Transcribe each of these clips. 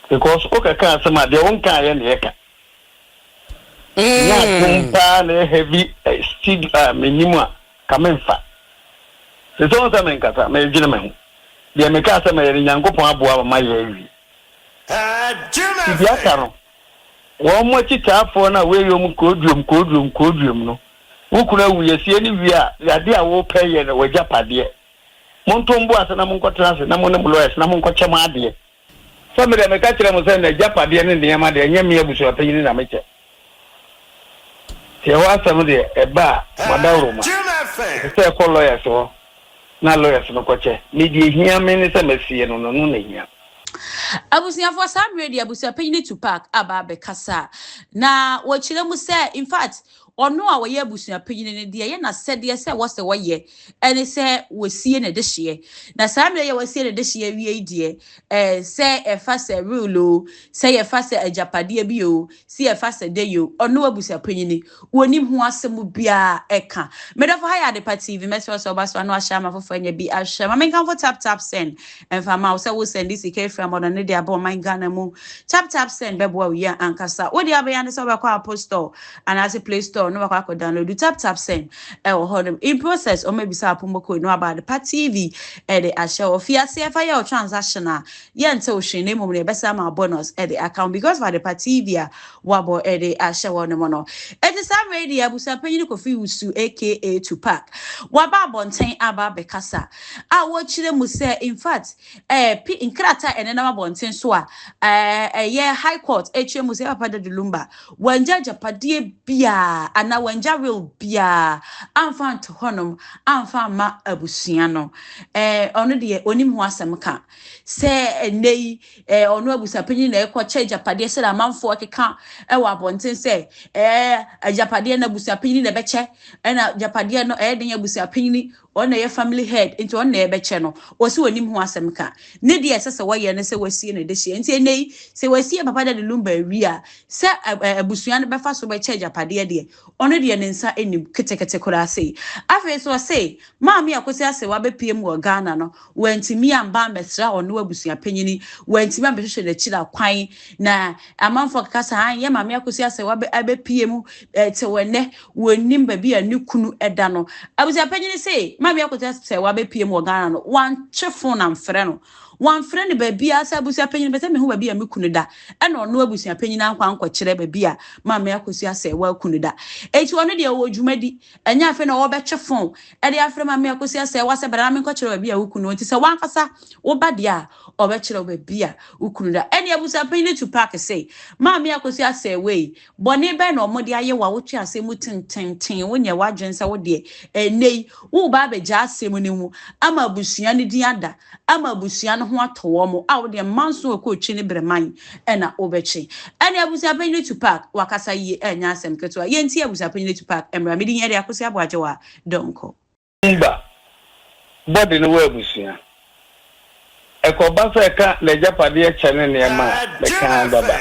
Because wo kɛkɛ asɛm a deɛ wo nka ayɛ na ɛka. Nya adom paa na heavy seed a menim a ka me nfa. Sɛ sɛ ɔnsɛ me nkasa me dwene me ho. Deɛ me ka asɛm ɛyɛ no Nyankopɔn aboa ma ma yɛ awie. Ti deɛ aka no wɔn mo akyitaafoɔ no a wei yɛ wɔn koduom koduom koduom no wo kunu awu yɛ sie no wie a yadeɛ a wo pɛ yɛ no wagyapadeɛ. Monto mo bo ase na monkɔtena ase na mo ne mo lawyers na monkɔkyɛ mo adeɛ. Sɛ me deɛ meka kyerɛ mo sɛ nagyapadeɛ ne nneɛma deɛ ɛnyɛ me abusuapanyini na mekyɛ. Nti ɛhɔ asɛm deɛ ɛba a moadaworoma. Ɛsɛ sɛ ɛkɔ lawyers hɔ na lawyers no kɔkyɛ. Me deɛ ɛhia me ne sɛ masie no no ɛno na ɛhia me. Abusuafoɔ saa mmerɛ deɛ abusuapanyini Tupac aba abɛkasa a na wɔkyerɛ mu sɛ in fact Ɔno a ɔyɛ abusua panyin no, deɛ ɛyɛ n'asɛdeɛ sɛ ɛwɔ sɛ ɔyɛ ne sɛ ɔsie ne dehyeɛ. Na saa mmerɛ yi a wasie ne dehyeɛ awie yi deɛ, ɛɛ, sɛ ɛfa sɛ will o, sɛ yɛfa sɛ agyapadeɛ bi o, sɛ yɛfa sɛ dɛn o, ɔno abusua panyin no, ɔnnim ho asɛm biara ka. Me dɔfo, ha yɛ Adepa TV, mɛsrɛ wo sɛ wobɛba so ano ahyɛ ama foforɔ anya bi ahwɛ. Ma menkamfo Tap Tap Send mfa mma wo sɛ wo sɛnde sika afiri Amɔdɔn no de aba ɔman Ghana mu. Tap Tap Send bɛboa wo yie ankasa. Wo deɛ wobɛyɛ ara ne sɛ wobɛkɔ Apple Store Anaase play store na wakɔ akɔ download tap tap sɛn ɛwɔ hɔ nom in process ɔmo abisa wo promo code no aba adepa tv ɛde ahyɛ hɔ fi aseɛ fa yɛ wo transaction a yɛnte wo hwee na mmom no yɛbɛsa ama wo bonus ɛde aka ho because of adepa tv a wabɔ ɛde ahyɛ hɔ nom no ɛti saa mmerɛ yi deɛ abusua panyin kofi wusu aka tupac waba abɔnten aba abɛkasa a wɔkyerɛ mu sɛ in fact ɛɛ eh, pi nkrataa ɛnenam abɔnten so a ɛɛ eh, ɛyɛ high court ɛkyerɛ mu sɛ papa dadulumba Wɔanngya agyapadeɛ biara anaa wɔanngya will biara ammfa annto hɔnom ammfa amma abusua no. Ɛɛ, ɔno deɛ ɔnnim ho asɛm ka. Sɛ ɛnnɛ yi ɛɛ ɔno abusuapanin na ɛrekɔkyɛ agyapadeɛ sɛdeɛ amanfoɔ rekeka wɔ abɔnten sɛ ɛɛ agyapadeɛ no abusuapanin na ɛbɛkyɛ, ɛna agyapadeɛ no ɛyɛ den abusuapanin Ɔno na ɛyɛ family head nti ɔno na yɛbɛkyɛ no. Ɔse ɔnim ho asɛm ka. Ne deɛ ɛsɛ sɛ wɔyɛ ne sɛ wɔasie no dehyeɛ. Nti ɛnnɛ yi sɛ wɔasie Papa Daddy Lumba awie a, sɛ abusua no bɛfa so bɛkyɛ agyapadeɛ deɛ, ɔno deɛ ne nsa nnim ketekete koraa sei. Afei nso ɔse Maame Akosi Asewa bɛpiem wɔ Ghana no, Wantumi amba ambɛsera ɔno abusuapanyin, wantumi ambɛhwehwɛ n'ekyir akwan, na amamfo akeka se ae, yɛ Maame Akosua sɛ waba abepue mu tsew ndɛ, wonnyim baabi a no kun da no. Abusuapanyin se Maame Akosua sɛ wabepue mu wɔ Ghana no, wɔanntwe fon ammfrɛ no, wɔammfrɛ no baabiara, sɛ abusuapanyin mepɛ sɛ mehu baabi a me kun da, nna ɔno abusuapanyin annkɔ annkɔkyerɛ baabi a Maame Akosua sɛ woakun da. Ntsi ɔno deɛ ɔwɔ dwumadi, Ɛnyɛ afei na wɔbɛtwe fõ de afrɛ ma me akosi asɛ w'asɛ bra na menkɔkyerɛ baabi a wo kunu wɔ nti sɛ w'ankasa woba deɛ a ɔbɛkyerɛ wo baabi a wo kunu da ɛnneɛ abusuapanyin no tu paake se maame akosi asɛ wei bɔne bɛn na wɔde ayɛ wo a wotwe asɛm mu tententen wonyɛ w'adwene sɛ wo deɛ ɛnnɛ yi woreba abɛgya asɛm no mu ama abusua no din ada ama abusua no ho atɔ wɔn a wo deɛ mma nso ɔkɔ ɔkyi ne berɛ man na wobɛkye ɛne abusuapanyin atu park wakasa yie ɛnyɛ asɛm ketewa yɛn nti abusuapanyin atu park mmra me din yɛ de akosi aboagyewa donkor. Mba bɔde no wɔ abusua. Ɛkɔba sɛ ɛka n'agyapadeɛ kyɛ ne nneɛma a, meka ara bɛba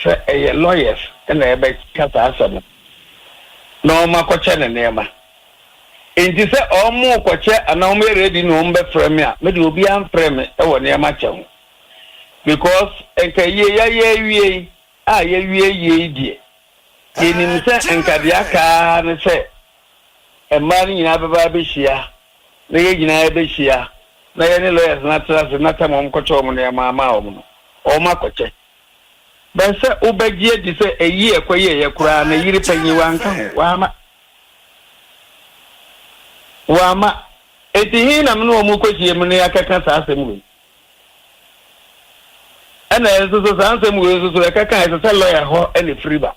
sɛ ɛyɛ lawyers na ɛbɛka saa asɛm no na wɔakɔkyɛ ne nneɛma. Enti sɛ wɔrekɔkyɛ anaa wɔyɛ ready na wɔbɛfrɛ me a, me deɛ obiara mfrɛ me wɔ nneɛma kyɛ ho because nka yie yɛayɛ awie yi a yɛawie yie yi deɛ, yɛnim sɛ nka deɛ aka ara ne sɛ mmaa no nyinaa bɛba abɛhyia na yɛn nyinaa yɛbɛhyia na yɛne lawyers no atena ase na tam a wɔkɔkyɛ wɔn nneɛma ama wɔn no, wɔakɔkyɛ. But sɛ wobɛgye adi sɛ ayi a ɛkɔyɛeɛ koraa no, yere panyin wanka ho, wamma. Wamma. Enti he na me ne wɔn rekɔhyiam na yɛakɛka saa asɛm wei? Ɛna nso so saa nsɛm wei nso so ɛkɛka a ɛsɛ sɛ lɔya hɔ na ɛfiri ba.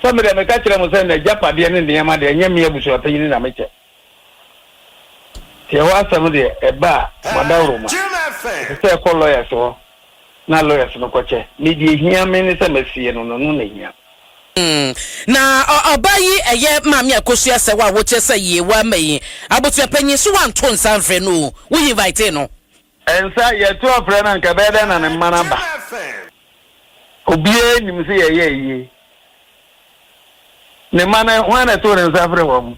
Sɛ me deɛ meka kyerɛ mo sɛ n'agyapadeɛ ne nneɛma deɛ ɛnyɛ me abusuapanyin na mekyɛ. Tiɛ w'asɛm deɛ ɛba a m'adawroma ɛsɛ sɛ ɛkɔ lawyers hɔ na lawyers no kɔkyɛ me deɛ ɛhia me ne sɛ m'asie no no no na ɛhia me. Mm na ɔbaa yi ɛyɛ maame akosu asɛw a wokyɛ sɛ yie wɔ ama yi abotuapanyin so wanto nsa nfrɛ no o wo invitee no. Ɛnsɛ a yɛto afrɛ no anka ɛbɛyɛ dɛn na ne mma no aba. Obiara nim sɛ yɛyɛɛ yie. Ne mma no, hwan na ɛtoo ne nsa frɛɛ wɔn?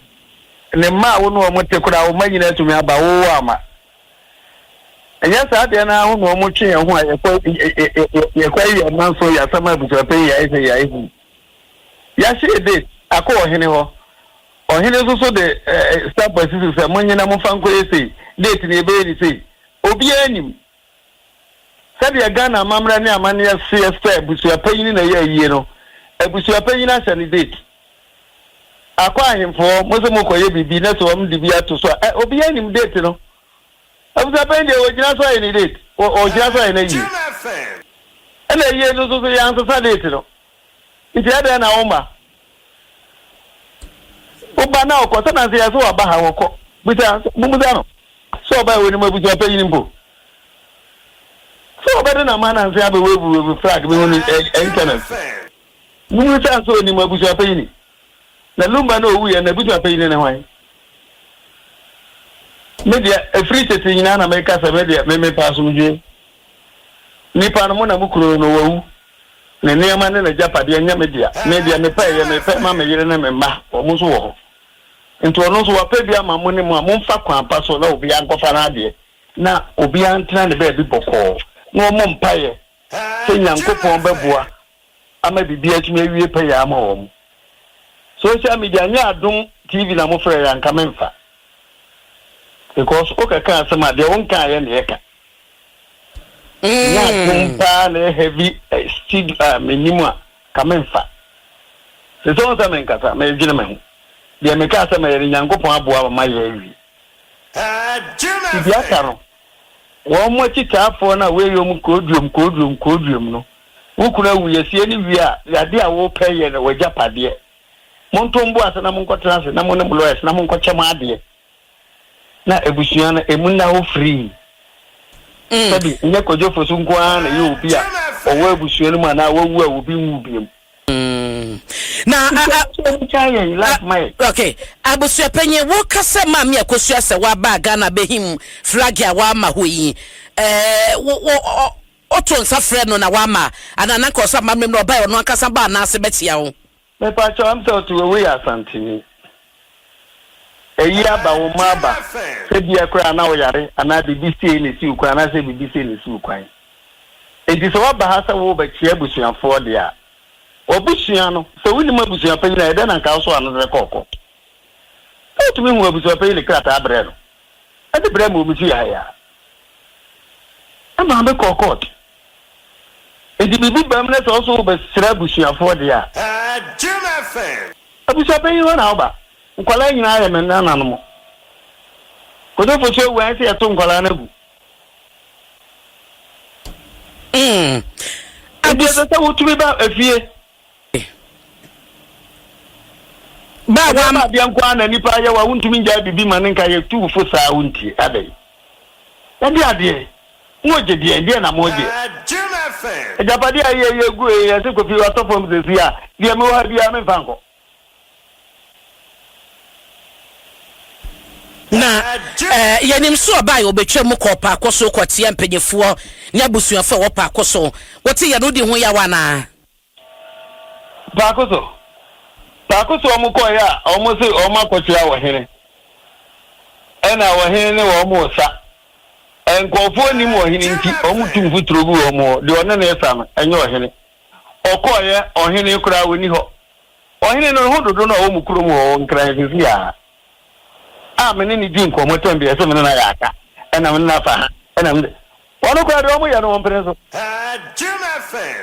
Ne mma a wo ne wɔn te koraa, wo mma nyinaa atumi aba, wowɔ ama. Ɛnyɛ saa deɛ no ara ho na wɔtwe yɛn ho a yɛkɔ yɛkɔ yɛ mma so, yɛasam abusuapɛn, yɛayɛ sɛ yɛayɛ hu. Yɛahyɛ date akɔ ɔhene hɔ. Ɔhene nso so de sampua si so sɛ, Monnyina, momfa nkɔyɛ sei, date no yɛbɛyɛ no sei. Obiara nim. Sɛdeɛ Ghana amammerɛ ne amanneɛ seɛ sɛ abusua panyini na ɛyɛ ayie no, abusua panyini ahyɛ no date. Akɔ ahemfoɔ, mose mokɔyɛ biribi na sɛ wɔn de bi ato so a, obiara nim date no. Abusua panyin deɛ ɔgyina so ayɛ ne date, ɔgyina so ayɛ n'ayie. Ɛna ayie no nso so yɛansesa date no. Nti ɛdɛn na wo ma wo ba na ɔkɔ sɛnanse yɛ sɛ waba ha wɔkɔ bisa momusa no sɛ ɔba yɛ wɔnim abusua panyin mpo sɛ ɔbɛde na ma nanse abɛ wave wave flag me hunu internet momusa sɛ ɔnim abusua panyin na lumba na ɔwu yɛ na abusua panyin ne hwan me deɛ ɛfiri tete nyinaa na meka sɛ me deɛ me mepa asomdwe nipa no mo na mo kuro no wawu Ne nneɛma ne n'agyapadeɛ, ɛnyɛ me dea. Me deɛ, mepɛeɛ, merepɛ ma me yere ne me mma, wɔn nso wɔ hɔ. Enti ɔno nso, wapɛ bi ama mo ne mo a momfa kwan pa so na obiara nkɔfa n'adeɛ, na obiara ntena ne baabi bɔkɔɔ, na wɔmmɔ mpaeɛ sɛ Nyankopɔn bɛboa ama biribi atumi awie pɛyɛ ama wɔn. Social media nyɛ adom TV na mofrɛeɛ a, anka memfa, because wokɛka asɛm a, deɛ wonkaeɛ na yɛka. Nya dom paa na ɛyɛ heavy steed a mennim a ka memfa. Sesɛ wohu sɛ menkasa, meredwene me ho. Deɛ mekaa sɛ mɛyɛ no Nyankopɔn aboa ma mayɛ awie. Subiata no, wɔn mo akyitaafoɔ no a woeyi wɔn koodwom koodwom koodwom no, wo kunu awu, yɛsie no wie a, yɛ adeɛ a wopɛ yɛ no w'agyapadeɛ. Monto mo bo ase na monkɔtena ase na mo ne mo lawyers na monkɔkyɛ mo adeɛ. na abusua no emu nna hɔ firii. Mm. Sɛbi, nyɛ Kodwofo so nko ara na ɛyɛ obi a ɔwɔ abusua no mu anaa wawu a obi nwu biom. Mm. Na okay, abusua panyin woka sɛ maame akosua sɛ waba Ghana bɛhim flag a wama hɔ yi. Eh, wo wo ɔto nsa frɛ no na wama anaa nanka ɔsɛ amammerɛ mu na ɔbae ɔno ankasa ba anaase bɛkyea wo? Mepakyɛw am sɛ ɔte wɔ wei yɛ asanteni ɛyi aba wo mma aba sɛ bia koraa na woyare anaa biribi siei na ɛsiw kwan anaasɛ biribi sei na ɛsiw kwan enti sɛ woaba ha sɛ worebɛkyea abusuafoɔ deɛ a w'abusua no sɛ wonim abusuapanyin a ɛdɛn na nka wosoa no sɛ kɔɔkɔ sɛ wotumi hu abusuapanyin de krataa brɛ no de brɛɛ me wɔ me fie ha yi a, na Maame kɔɔ kɔɔt. Enti biribi ba mu na sɛ wo nso wobɛsra abusuafoɔ deɛ a, abusuapanyin hɔ na woba. Nkwadaa nyinaa yɛ me nananom. Kodefoɔ so awu a, ɛsɛ yɛto nkwadaa no agu. Enti ɛsɛ sɛ wotumi ba efie. Ba wa. Ɛdeɛma adeɛ nko ara na nipa ayɛ wa wontumi ngyae bibi ma ne nka yɛ tu fo saa wontie adɛn ɛdeɛ adeɛ mo gye deɛ ɛdeɛ na mo gye agyapadeɛ a yɛ yɛ gu yɛ se kofi wa tɔ fam sɛsi a deɛ me wɔ ha biara me nfa nkɔ. Na eh, yɛnim so ɔbaa yɛ ɔbɛtwa mu kɔ paako so kɔteɛ mpanyifoɔ ne abusuafoɔ a wɔ paako so wote yɛ no di ho yaw anaa. Faako so faako so wɔn kɔɔɛ a wɔn se wɔn akɔkyera ɔhene ɛna ɔhene ne wɔn resa. Nkurɔfoɔ nnim ɔhene nti wɔn tu mfuturo gu wɔn hɔ, deɛ ɔne no resa no ɛnyɛ ɔhene. Ɔkɔɔɛ ɔhene koraa ɔnni hɔ. Ɔhene no ho dodo no a ɔwɔ mo kurom hɔ Nkran sisi a a me ne no di nkɔmmɔ tɛm bi a ɛse me ne no ayɛ aka ɛna me ne no afa ha ɛna me ne Wɔn koraa deɛ wɔyɛ no wɔmpene so.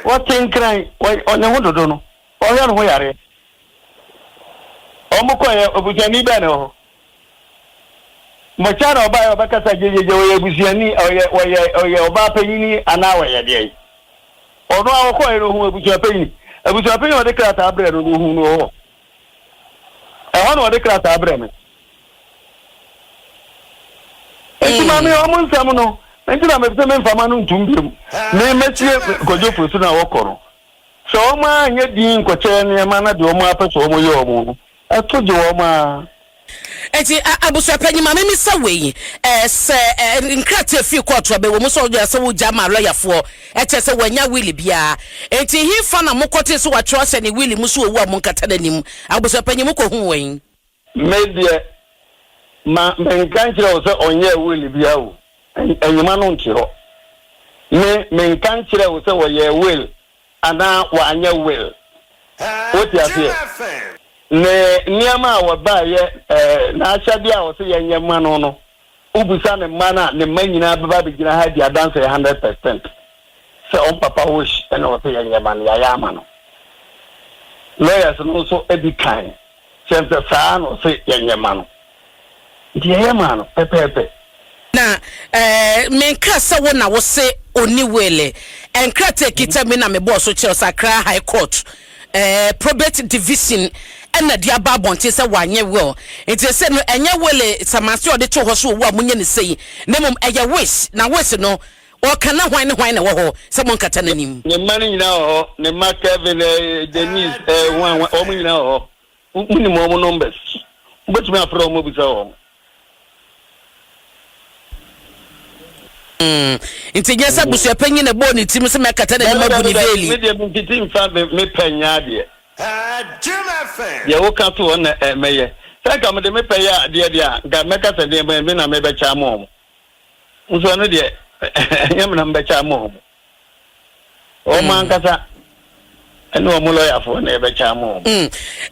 Wɔte nkran, wɔyɛ ne ho dodo no, wɔhwɛ ne ho yareɛ. Wɔkɔeɛ, obusuani bɛn na ɛwɔ hɔ? Bɔkyɛ na ɔbaeɛ, ɔbɛkasa gyegyeegye, ɔyɛ abusuani, ɔyɛ, ɔyɛ, ɔyɛ ɔbaa panyini anaa ɔyɛ deɛn? Ɔno a ɔkɔeɛ no, ɔhuu abusuapanyin. Abusuapanyin a ɔde krataa brɛɛ no no, ɔhuu no wɔ hɔ? Ɛhɔ na wɔde krataa brɛ me. Nti ma me wɔn nsɛm no. Nti na mepɛ sɛ memfa ma no ntom biom. Me mɛtie Kwadwo Fosu no a wɔkɔ no. Sɛ wɔn ara nyɛ dinn nkɔkyɛ nneɛma na deɛ wɔn ara pɛ sɛ wɔyɛ wɔn no, ɛto gye wɔn ara. Enti abusuapanyin, ma mimmisa wei yi, ɛɛ, sɛ ɛɛ nkrataa fi kɔɔto a, bɛwɔ mu sɛ ɔyɛ sɛ wogya maa lɔyafoɔ, ɛkyerɛ sɛ wɔannya will biara. Enti hefa na mokɔtee sɛ wɔatwerɛ ahyɛ ne will mu sɛ wawu a monkata n'anim? Abusuapanyin, mokɔhuu wɔn yi? Me deɛ, ma menka nkyerɛ wo sɛ ɔnyɛɛ will biara o. Ɛ, nwoma no nte hɔ. Me, menka nkyerɛɛ wo sɛ wɔyɛɛ will anaa wɔanyɛ will. Wote aseɛ? Ne nneɛma a wɔbaeɛ, ɛɛ, n'ahyɛdeɛ a ɔse yɛnyɛ mma no no, wobisa ne mma no a, ne mma nyinaa bɛba abɛgyina ha adi adanseɛ hundred per cent sɛ wɔn papa Osh na ɔse yɛnyɛ mma no, yɛayɛ ama no. Lawyers no nso di kan. Sɛ mpɛ saa na ɔse yɛnyɛ ma no nti yɛyɛ maa no pɛpɛɛpɛ. Na eh, menkaa sɛ wo na wose onni wele. Eh, nkrataa a ɛkita mi na mebɔɔ so kyerɛw sɛ Accra High Court eh, Probate Division na de aba abɔnten sɛ wanyɛ will. Nti ɛsɛ no ɛnyɛ wele samanseɛ a ɔde too hɔ sɛ owu a monyɛ no sei, na mmom ɛyɛ wish. Na wish no, Ɔka na hwan ne hwan na ɛwɔ hɔ sɛ monkata n'anim? Ne mma no nyinaa wɔ hɔ, ne mma Kevin, Denise, hwan, hwan, wɔn nyinaa wɔ hɔ. Wo- Wonim wɔn numbers. Wobɛtumi afrɛ wɔn abisa wɔn. Mm. Nti nyɛ sɛ abusuapanyin na ɛbɔɔ ne tirim sɛ mɛkata n'anim Dabi, abu dabi, ne dabi. veeli. Me deɛ mentiti mfa me me pɛ nyɛ adeɛ. Deɛ woka to hɔ na eh, mɛyɛ. Sɛ nka mede me pɛ yɛ adeɛ deɛ a, nka mɛka sɛ deɛ me me na mebɛkyɛ ama wɔn. Nso ɛno deɛ ɛnyɛ menam bɛkyɛ ama wɔn. Wɔn ankasa ɛne wɔn lɔyafoɔ na ɛbɛkyɛ ama wɔn. Mm.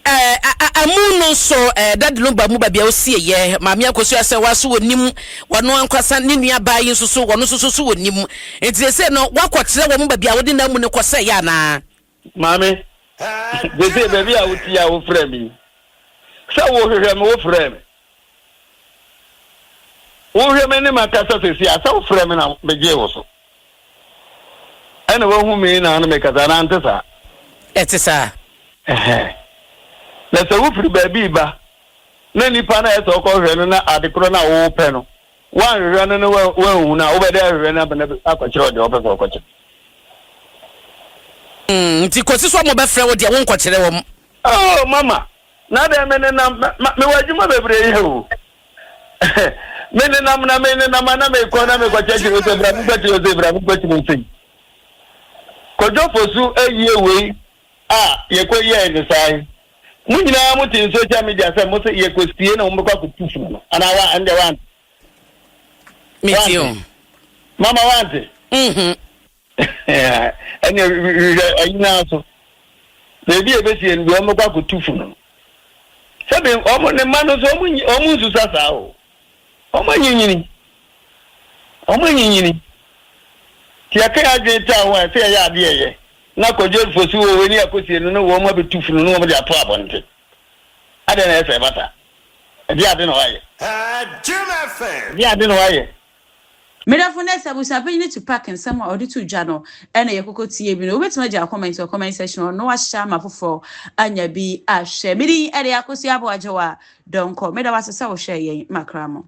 Eh, amu no nso eh, dade no ba mu baabi a ɔsieyɛ maame akosua sɛ wa so wɔnim wɔno ankwasa ne nua baa yi nso so wɔno nso so so wɔnim nti sɛ no wakɔkyerɛ wɔn baabi a wode no amu no kɔsɛeɛ anaa Maame, seesei baabi a wote yi a wofrɛɛ me yi, sɛ wohwehwɛ me wofrɛɛ me. Wohwɛ me ne makasa seesei a sɛ wofrɛɛ me na megyee wo so. Ɛna woahu me na ano mekasa anaa nte saa? Ɛte saa. Na sɛ wofiri baabi ba na nipa no a ɛsɛ ɔkɔhwɛ no na ade korɔ no a wopɛ no Woannhwehwɛ no na woannhu no a, wobɛda ahwehwɛ no abɛn akɔkyerɛ ɔde a wopɛ sɛ ɔkɔkyerɛ. Mm, nti kɔsi sɛ wɔbɛfrɛ wo deɛ wonkɔkyerɛ wɔn. Oh, mama, na dɛn menenam, mewɔ adwuma bebree yɛ o. menenam na menenam a na mekɔ na mekɔkyerɛkyerɛ wo sɛ bra menkɔkyerɛ wo sei, bra menkɔkyerɛ wo sei. Kwadwo Fosu ayie wei. A, yɛkɔ yiaɛ no saa yi. Mo nyinaa mo te social media sɛ mo se yɛkɔ sie na wɔn bɛkɔ akɔ tu funu no anaa wa ɛndeɛ wa nte. Me te o. Mama wa nte. Mhm. Ɛnneɛ hwehwɛ ayi naa so. Baabi a ɛbɛsie no deɛ wɔn bɛkɔ akɔ tu funu no. Sɛbi wɔn ne mma no nso wɔn nyi wɔn nsusa saa o. Wɔanyinyini. Wɔanyinyini. Nti yɛka yɛn adwene taa wɔn a, ɛsɛ sɛ yɛyɛ adeɛ a ɛyɛ. Na kɔdwo afifo so oo, ɛne akosie no, na wɔn abɛtu funu na wɔde ato abɔnten. Adɛn na ɛyɛ sɛ ɛba saa? Ɛdeɛn ade na wɔayɛ? Ɛdeɛn ade na wɔayɛ? Me dɔfo, nnɛ sɛ abusuapanyin no tu pack nsɛm a ɔde to dwa no na yɛkɔkɔ tie bi no, wobetumi agyaw comment wɔ comment section hɔ na wahyɛ ama afoforo anya bi ahwɛ. Me din de Akosua Boagyewa Donkor. Meda wo ase sɛ wohwɛɛ yɛn. Makra mo.